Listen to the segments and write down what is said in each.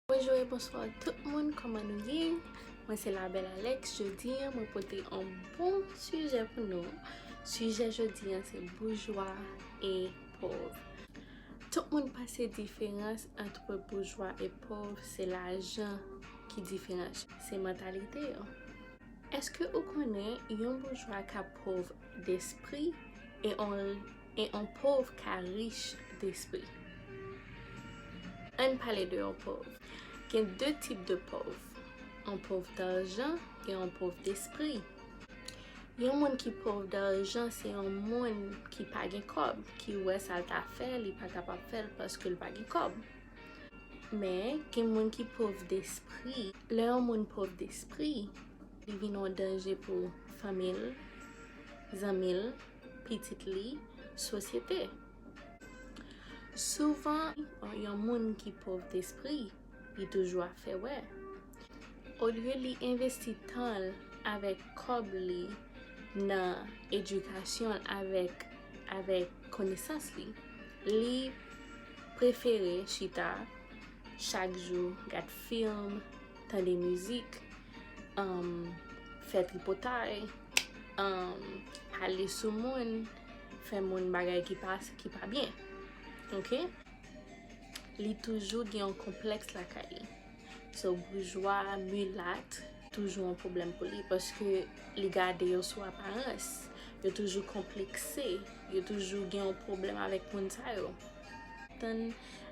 Bonjou e bonswa tout moun koman nou ye Mwen se la bel Alex Jodi an mwen pote an bon sijè pou nou Sijè jodi an se boujwa e pov Tout moun pase diferans antre boujwa e pov se lajan ki diferans yo Se mantalite yo Eske ou konnen yon boujwa ka pov despri e on e yon pov ka rich despri. Ann pale de yon pov. Gen 2 tip de pov, yon pov darjan e yon pov despri. Yon moun ki pov darjan se yon moun ki pa gen kòb, ki wè sa l ta fè li pa ta pap fè l paske l pa gen kòb. Men, gen moun ki pov despri. Lè yon moun pov despri, li vin yon danje pou fanmi l, zanmi l, pitit li sosyete. Souvan, yon moun ki pòv despri, li toujou ap fè wè. Olye li envesti tan l avèk kòb li nan edikasyon l avèk konesans li, li prefere chita chak jou gad film, tande mizik. fè tripotay, pale sou moun, fè moun bagay ki pa byen. Ok? Li toujou gen yon konplèks lakay li. So, boujwa, milat, toujou yon pwoblèm pou li. Paske li gade yo sou aparans. Yo toujou konplekse. Yo toujou gen yon pwoblèm avèk moun sa yo. Tann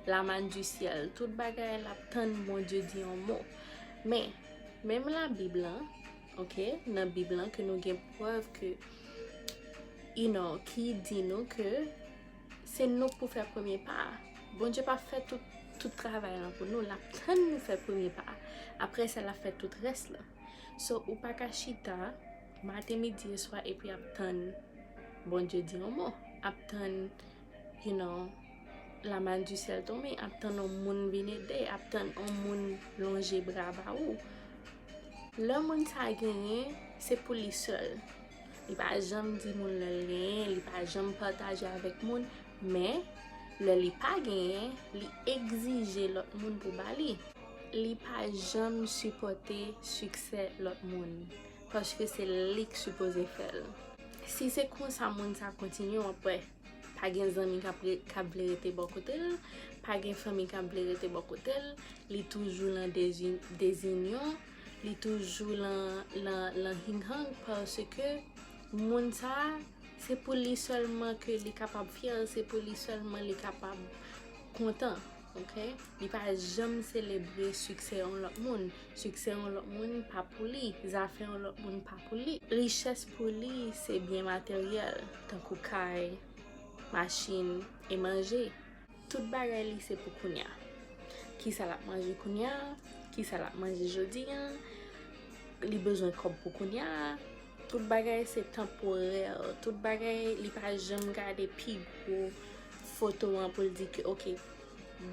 la man di syèl. Tout bagay la tann moun di di yon mou. Men, menm la bib lan, ok, nan bib lan ke nou gen prèv ke, you know, ki di nou ke se nou k pou fè premye pa a. Bondye pa fè tout, tout travay lan pou nou, lap tann nou fè premye pa a, apre sa lap fè tout rès lan. So, ou pa ka chita maten, midi e swa epi ap tann Bondye di yon mo, ap tann, you know, La man du sèl tonbe ap tann yon moun vin ede, ap tann yon moun lonje bra ba ou. Lè moun sa genyen, se pou li sèl. Li pa janm di moun lè l genyen, li pa janm pataje avèk moun, men lè li pa genyen, li egzije lòt moun pou ba li. Li pa janm sipòte siksè lòt moun, paske se li k sipoze fè l. Si se konsa moun sa kontinye, w ap wè. Pa gen zanmi kap kap vle rete bò kote l, pa gen fanmi kap vle rete bò kote l, li toujou lan dezi dezinyon, li toujou lan lan lan hing hang paske moun sa se pou li sèlman ke li kapab fyè, se pou li sèlman li kapab kontan. Ok li pa janm selebre siksè yon lòt moun, siksè yon lòt moun pa pou li, zafè yon lòt moun pa pou li. Richès pou li se byen materyèl tankou kay, machin e manje. Tout bagay li se pou kounya. Kisa lap manje kounya, kisa lap manje jodi an, li bezwen kòb pou kounya. Tout bagay se tanporè, tout bagay li pa janm gade pi gwo foto an pou l di ke ok,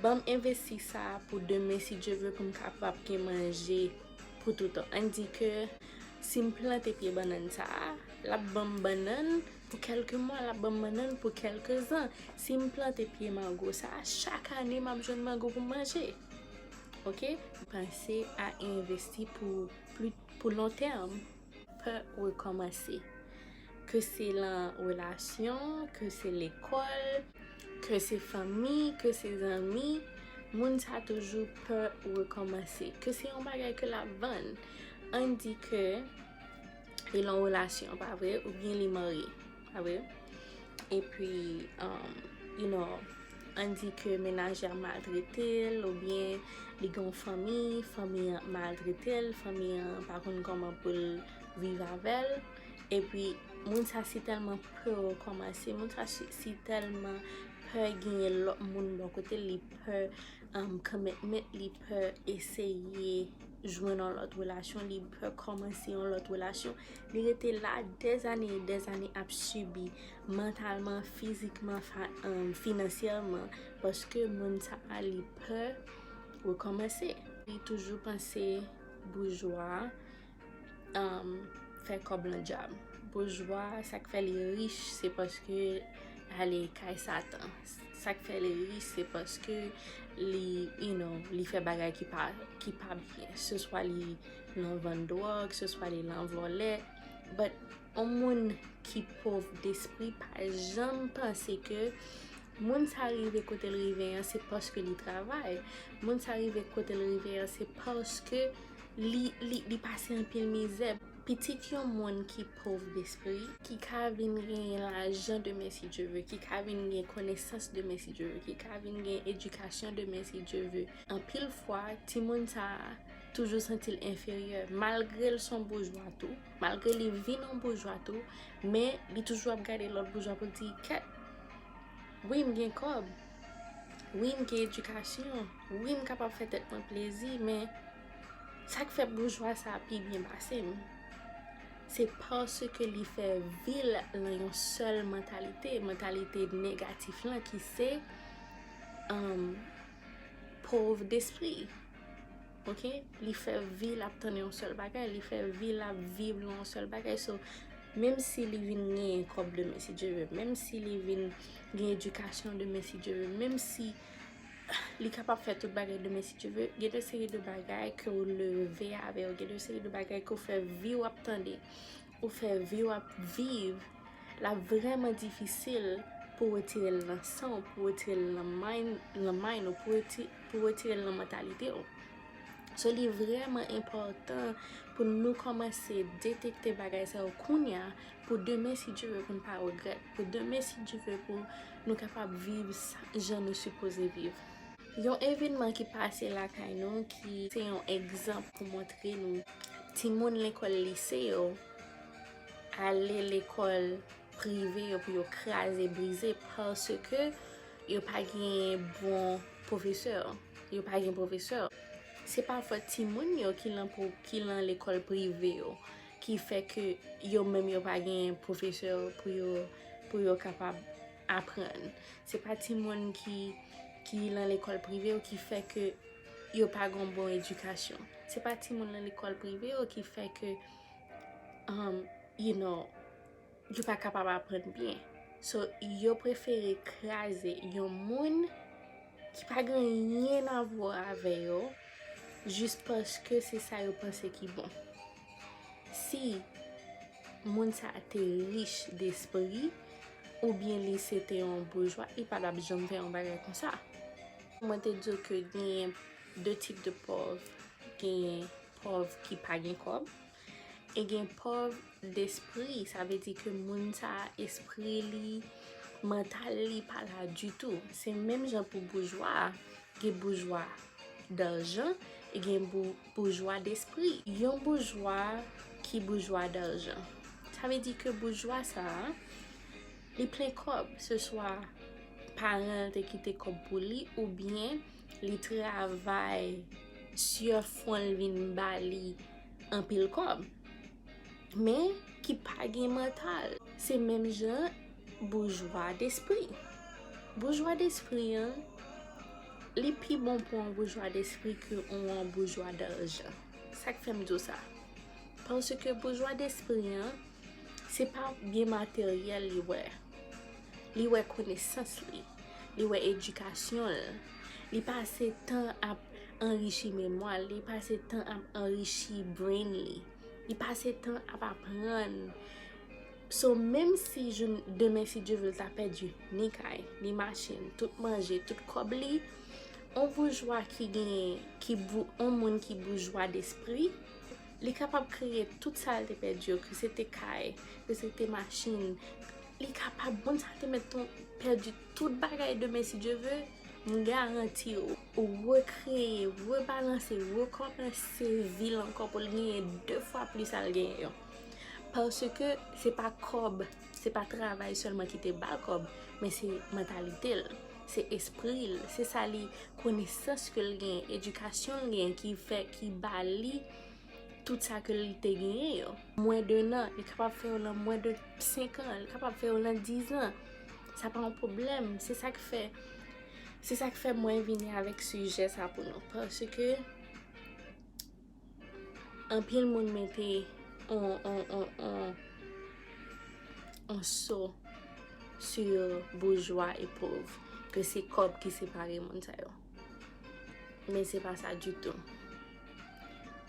banm envesti sa pou demen si Dye ve pou m kapab gen manje pou toutan. An di ke si m plante pye bannann sa a, l ap banm bannann pou kèlke mwa, l ap banm bannann pou kèlke zan. Si m plante pye mango sa a, chak ane m ap jwenn mango pou m manje. Ok? Panse a envesti pou lon tèm. Pa rekòmanse. Ke se lan relasyon, ke se lekòl, ke se fanmi, ke se zanmi, moun sa toujou pè rekòmanse. Ke se yon bagay ke lap vann. Ann di ke li lan relasyon, pa vre? Oubyen li marye. Ah wi. E pi, you know, an di ke menaj la maltrete l ou byen li gen yon fanmi, fanmi an maltrete l, fanmi an pa konn kòman pou l viv avè l. E pi, moun sa si tèlman pè rekòmanse, moun sa si tèlman pè genyen lòt moun bò kote l, li pè commitment, li pè eseye jwenn yon lòt relasyon, li pè kòmanse yon lòt relasyon. Li rete la des années et des années ap sibi mantalman, fizikman, finansyèman paske moun sa a li pè rekòmanse. Li toujou panse boujwa fè kòb lan djab. Boujwa sa k fè li rich se paske l ale kay satan. Sa k fè li rich se paske li fè bagay ki pa byen. Nou vann drog, se swa li lan vòlè. But, on moun ki pov despri pa janm panse ke moun sa rive kote l rive an se paske li travay. Moun sa rive kote l rive an se paske li pase anpil mizè. Pitit yon moun ki pov despri, ki ka vin genyen lajan demen si Dye ve, ki ka vin gen konesans demen si Dye ve, ki ka vin gen edikasyon demen si Dye ve. Anpil fwa, timoun sa a. toujou santi l enferyè malgre l son boujwa tou, malgre li vin yon boujwa tou, men li toujou ap gade lòt boujwa pou l di kèt, wi m gen kòb, wi m gen edikasyon, wi m kapab fè tèt mwen plezi, men sa k fè boujwa sa pi byen pase m, se paske li fè vi l nan yon sèl mantalite, mantalite negatif lan ki se pov despri. ok li fè vi lap tann yon sèl bagay li fè vi lap viv yon sèl bagay so menm si li vin gen kòb de men si Dieu veut menm si li vin gen edikasyon de men si Dieu veut menm si li kapab fè tout bagay de men si Dieu veut gen de seri de bagay ke ou leve avèl gen de seri de bagay ke ou fè viw ap tande Ou fè vi w ap viv la vrèman difisil pou w retire l nan san w, pou w retire l nan mind ou, pou w retire l nan mantalite w. So li vrèman enpòtan pou nou kòmanse detekte bagay sa yo kounya pou demen si Dye ve pou n pa regrèt, pou demen si Dye ve pou nou kapab viv jan nou sipoze viv. Yon evenman ki pase lakay nou ki se yon egzanp pou montre nou timoun lekòl lise yo ale lekòl prive yo pou yo kraze brize paske yo pa gen bon pwofesè, yo pa gen pwofesè. Se pa fòt timoun yo ki lan lekòl prive yo ki fè ke yo menm yo pa gen pwofesè pou yo kapab. aprann. Se pa timoun ki lan lekòl prive yo ki fè ke yo pa gon bon edikasyon. Se pa timoun lan lekòl prive yo ki fè ke, you know, yo pa kapab aprann byen. So, yo prefere kraze yon moun ki pa gen anyen avwa avè yo jis paske se sa yo panse ki bon. si moun sa a te rich despri oubyen li se te yon boujwa, li pa t ap janm fè yon bagay konsa. Mwen te di w ke genyen de tip de pòv, genyen pòv ki pa gen kòb, e genyen pòv despri, sa vle di ke moun sa a espri li, mantal li pa la ditou. Se menm jan pou boujwa a, gen boujwa darjan e gen Boujwa despri. Yon boujwa ki boujwa darjan. Sa vle di ke boujwa sa a, li plen kòb. Se swa paran l te kite kòb pou li oubyen li travay, sye fwon l vin ba li anpil kòb. men ki pa gen mantal. Se menm jan boujwa despri. Boujwa despri an, li pi bon pou yon boujwa despri ke pou yon boujwa darjan. Sa k fè m di w sa? Paske boujwa despri an, se pa byen materyèl li wè. li wè konesans li, li wè edikasyon l, li pase tan ap anrichi memwa l, li pase tan ap anrichi brain li, li pase tan ap aprann. So menm si joun demen si Dye vle l ta pèdi ni kay, ni machin, tout manje, tout kòb li, on boujwa ki genyen, ki bou, on moun ki boujwa despri, li kapab kreye tout sa l te pèdi yo, ke se te kay, ke se te machin, Li kapab moun sa te mèt ton pèdi tout bagay demen si Dye ve, m garanti ou rekreye, rebalanse, rekòmanse vi l ankò pou l genyen 2 fwa plis sa l genyen yo. Paske se pa kòb, se pa travay sèlman ki te ba l kòb, men se mantalite l, se espri l, se sa li konesans ke l genyen, edikasyon l genyen ki fè ki ba li. tout sa ke li te genyen yo. Mwen de nan, li kapab fè yo nan mwen de 5 an, li kapab fè yo nan 10 an. Sa pa yon problem, se sa k fè, se sa k fè mwen vini avèk sijè sa pou nou. Pase ke, anpil moun mete on, on, on, on, on so si yo boujwa e pov, ke se kòb ki separe moun sa yo. Men se pa sa ditou.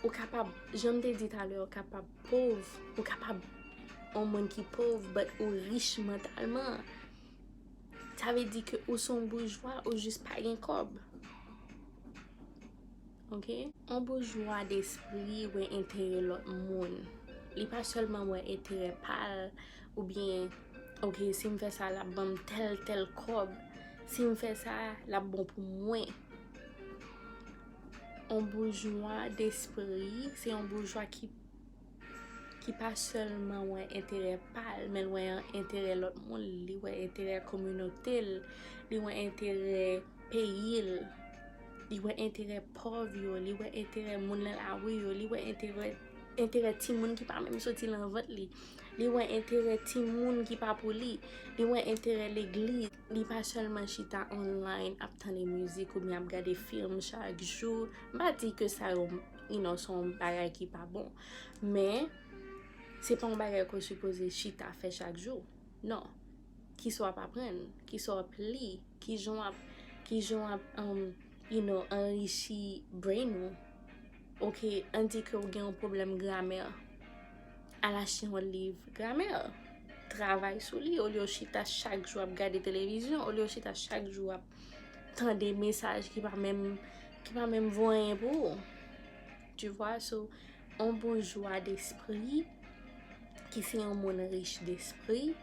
Ou kapab, jan m te di talè, ou kapab pov, ou kapab yon moun ki pov, but ou rich mantalman. Sa ve di ke ou son boujwa, ou jis pa gen kob. Ok? Yon boujwa despri wè enterè lot moun. Li pa selman wè enterè pa l, ou byen, ok, si m fè sa l ap ban m tel tel kob. Si m fè sa, l ap bon pou mwen. yon boujwa despri, se yon boujwa ki ki pa sèlman wè enterè pa l, men l wè enterè lòt moun, li wè enterè kominote l, li wè enterè peyi l, li wè enterè pòv yo, li wè enterè moun nan lari yo, li wè enterè enterè timoun ki pa menm soti nan vant li, li wè enterè timoun ki pa pou li, li wè enterè legliz. Li pa sèlman chita online ap tande mizik oubyen ap gade film chak jou. M pa di ke sa yo inon se yon bagay ki pa bon. Men, se pa yon bagay ke w sipoze chita fè chak jou. Non. Kisa w ap aprann? Kisa w ap li? Kijan w ap, kijan w ap, inon, anrichi brain ou? Ok, an di ke ou gen yon pwoblèm gramè. Al achte yon liv gramè. Travay sou li. Olye ou chita chak jou ap gade televizyon. Olye ou chita chak jou ap tande mesaj ki pa menm, ki pa menm vo anyen pou ou. Tu vwa? So, yon boujwa despri, ki se yon moun rich despri,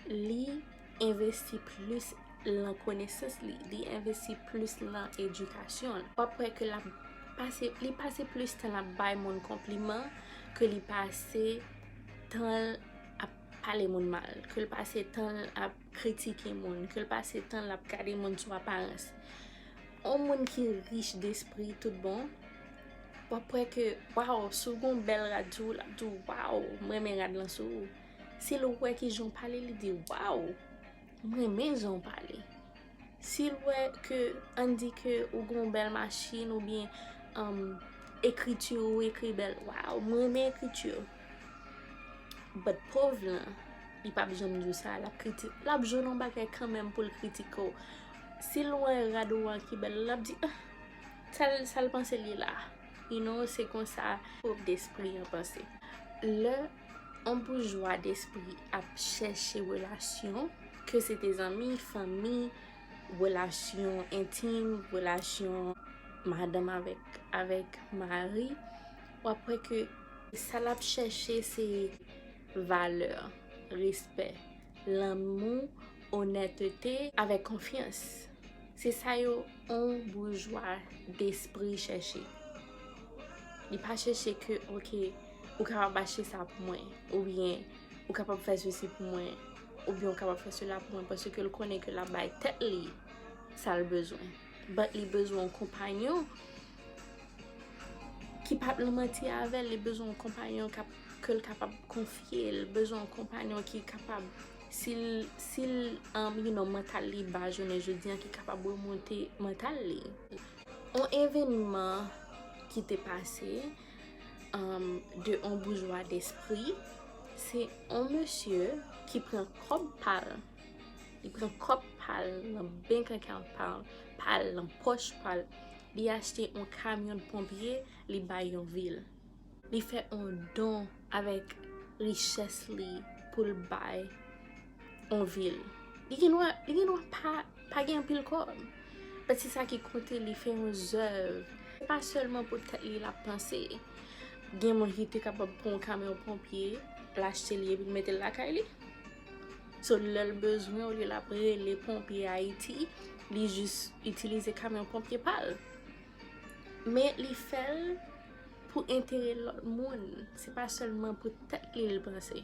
Li envesti plis lan konesans li. Li envesti plis lan edikasyon l. Wap wè ke lap pase, li pase plis tan lap bay moun konpliman ke li pase tan l ap pale moun mal. Ke l pase tan l ap kritike moun. Ke l pase tan l ap gade moun sou aparans. On moun ki rich despri tout bon, wap wè ke waw, si w gen yon bèl rad sou ou, lap di w waw, m renmen rad lan sou ou. Sil wè kijan w pale li di waw m renmen jan w pale. Sil wè ke an di ke ou gen yon bèl machin ou byen ekriti ou ekri bèl waw m renmen ekriti w. But pov lan li pap janm di w sa lap kriti lap jwenn yon bagay kanmenm pou l kritike w. Sil wè rad ou an ki bèl lap di ah tel sal panse li la you know se konsa pov despri an panse. Lè On boujwa despri ap chèche relasyon, ke se te zanmi, fanmi, relasyon entim, relasyon madanm avèk mari, w ap wè ke sa l ap chèche se valè, respè, lanmou, onètete avèk konfyans. Se sa yo on boujwa despri chèche. Li pa chèche ke ok. Ou kapab achte sa pou mwen. Oubyen, ou kapab fè sesi pou mwen. Oubyen, ou kapab fè sela pou mwen. Paske l konnen ke l ap bay tèt li sa l bezwen. Bat li bezwen yon konpanyon ki pap nan manti avè l. Li bezwen yon konpanyon ke l kapab konfye. Li bezwen yon konpanyon ki kapab, si l, si l, you know, mantal li ba jounen jodi an, ki kapab remonte mantal li. Yon evènman ki te pase. de on boujwa despri, se on mesye ki pran kòb pal, li pran kòb pal nan bank account pal, pal nan pòch pal, li achte on kamyon ponpye li bay yon vil. Li fè on don avèk richès li pou l bay. yon vil. Li gen dwa, li gen dwa pa, pa gen anpil kòb. Pati sa ki koute li fè yon zèv. Se pa sèlman pou tèt li lap panse. Gen moun ki te kapab pran yon kamyon ponpye, l achte li epi l mete l lakay li. So lè l bezwen olye l ap rele ponpye Ayiti, li jis itilize kamyon ponpye pa l. Men li fè l pou enterè lòt moun. Se pa sèlman pou tèt li l panse.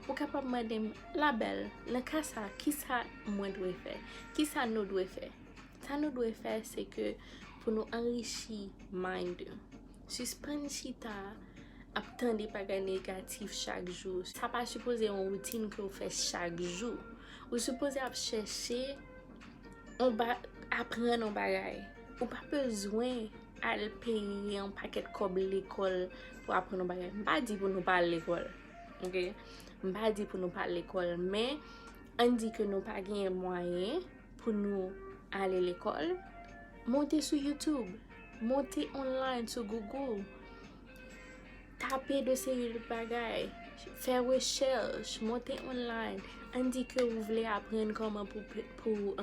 Ou kapab mande m, La bèl, nan ka sa a, ki sa mwen dwe fè? Ki sa nou dwe fè? Sa nou dwe fè se ke pou nou anrichi mind nou. Sispann chita ap tande bagay negatif chak jou. Sa pa sipoze yon woutin ke ou fè chak jou. Ou sipoze ap chèche yon ba, aprann yon bagay. Ou pa bezwen Al peye yon pakèt kòb lekòl pou aprann yon bagay. M pa di pou nou pa al lekòl. Ok? M pa di pou nou pa al lekòl. Men, an n di ke nou pa genyen mwayen pou nou ale lekòl, monte sou YouTube. Monte online sou Google. Tape de seri de bagay. Fè rechèch. Monte online. An n di ke ou vle aprann kòman pou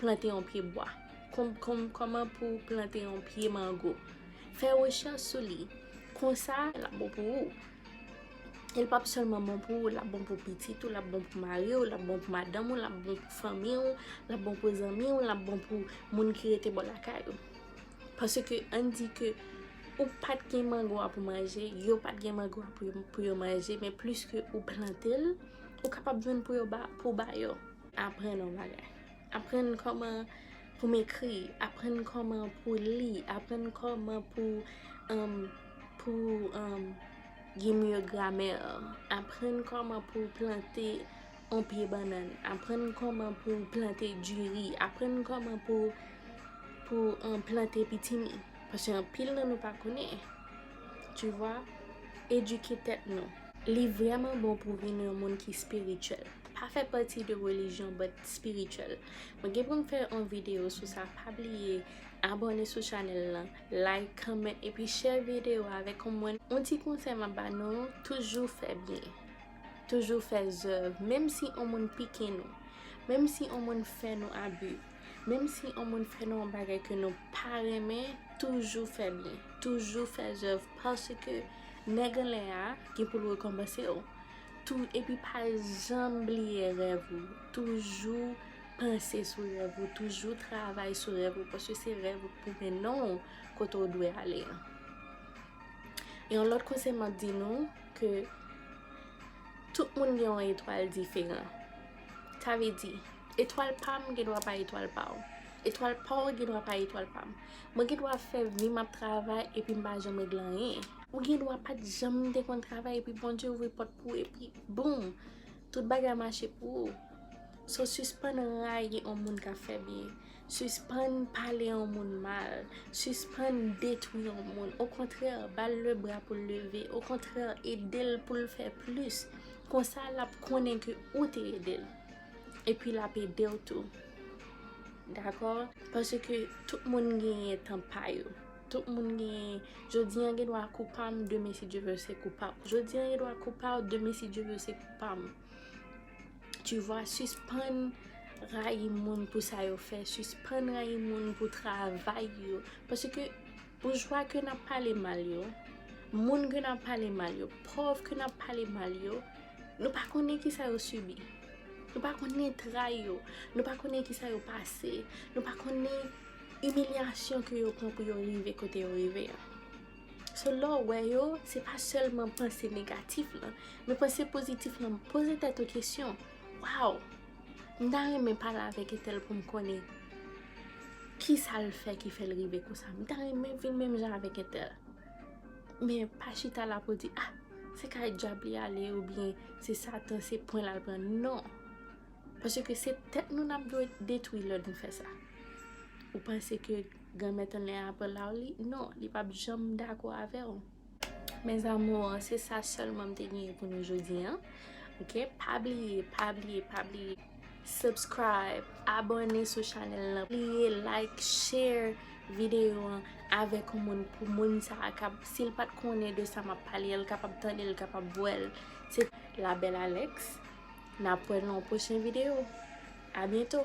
plante yon pye bwa. Kòman pou w plante yon pye mango. Fè rechèch sou li. Konsa, l ap bon pou ou. E l pap sèlman bon pou ou, l ap bon pou pitit ou, l ap bon pou mari ou, l ap bon pou madanm ou, l ap bon pou fanmi ou, l ap bon pou zanmi ou, l ap bon pou moun ki rete bò lakay ou. Paske an di ke ou pa t gen mango a pou manje, yo pa t gen mango a pou yo manje, men pliske ou plante l, ou kapab jwenn pou yo ba, pou w ba yo. Aprann yon bagay. Aprann kòman pou m ekri, aprann kòman pou li, aprann kòman pou gen mye gramè, aprann kòman pou plante yon pye bannann, aprann kòman pou plante diri, aprann kòman pou plante pitimi. Pase anpil nan nou pa konnen. Tu vwa? Edike tèt nou. Li vrèman bon pou vin yon moun ki spirituel. Pa fè pati de religion but spirituel. Mwen gen pou m fè yon video sou sa pa bliye abone sou channel lan, like, comment epi share video a avèk yon moun. Yon ti konsèy map ba nou toujou fè byen. Toujou fè zèv menm si yon moun pike nou, menm si yon moun fè nou abu, menm si yon moun fè nou yon bagay ke nou pa renmen toujou fè byen, toujou fè zèv paske. Nèg anlè a gen pou l rekonpanse w tou epi pa janm bliye rèv ou. Toujou panse sou rèv ou, toujou travay sou rèv ou paske se rèv ou k pou mennen w kote w dwe ale an. Yon lòt konsèy m ap di nou ke tout moun gen yon etwal diferan. Sa vle di, etwal pa m gen dwa pa etwal pa w. Etwal pa w gen dwa pa etwal pa m. Mwen gen dwa fè vi m ap travay epi m pa janm regle anyen. Ou gen dwa pa t janm te konn travay epi Bondye ouvri pòt pou ou epi boom! Tout bagay mache pou ou. So sispann rayi on moun k ap fè byen. Sispann pale on moun mal. Sispann detwi on moun. Okontrè, ba l lebra pou l leve. Okontrè, ede l pou l fè plis. Konsa l ap konnen ke ou te ede l. Epi lap edew tou. Dakò? Paske tout moun genyen tan pa yo. Tout moun genyen, jodi an gen dwa kou pam, demen si Dye vle se kou paw. Jodi an gen dwa kou paw, demen si Dye vle se kou pam. Tu vwa, sispann rayi moun pou sa yo fè, sispann rayi moun pou travay yo. Paske Boujwa ke nap pale mal yo, moun ke nap pale mal yo, pòv ke nap pale mal yo, nou pa konnen kisa yo sibi. Nou pa konnen tray yo, nou pa konnen kisa yo pase, nou pa konnen imilyasyon ke yo pran pou yo rive kote yo rive an. So lè w wè yo, se pa sèlman panse negatif lan, men panse pozitif lan. Poze tèt ou kesyon, waw! M ta renmen pale avèk Etèl pou m konnen ki sa l fè ki fè l rive konsa. M ta renmen vin menm jan avèk Etèl. Men pa chita la pou di, ah, se kay dyab li ale oubyen se satan, se pwen l al pran. Non! Paske se tèt nou n ap detwi lè nou fè sa. Ou panse ke Granmèt Annè a pran la w li? Non, li p ap janm dakò avè w. Mes amours, se sa selman m te genyen pou nou jodi an. Ok, pa bliye, pa bliye, pa bliye. Subscribe, abone sou chanel nan. Bliye like, share video an avek yon moun pou moun sa a kab. Si l pat konnen de sa map pale, l kapab tande, l kapab wè l. Se la belle Alex. Nap wè nan yon pwochen video. A byento.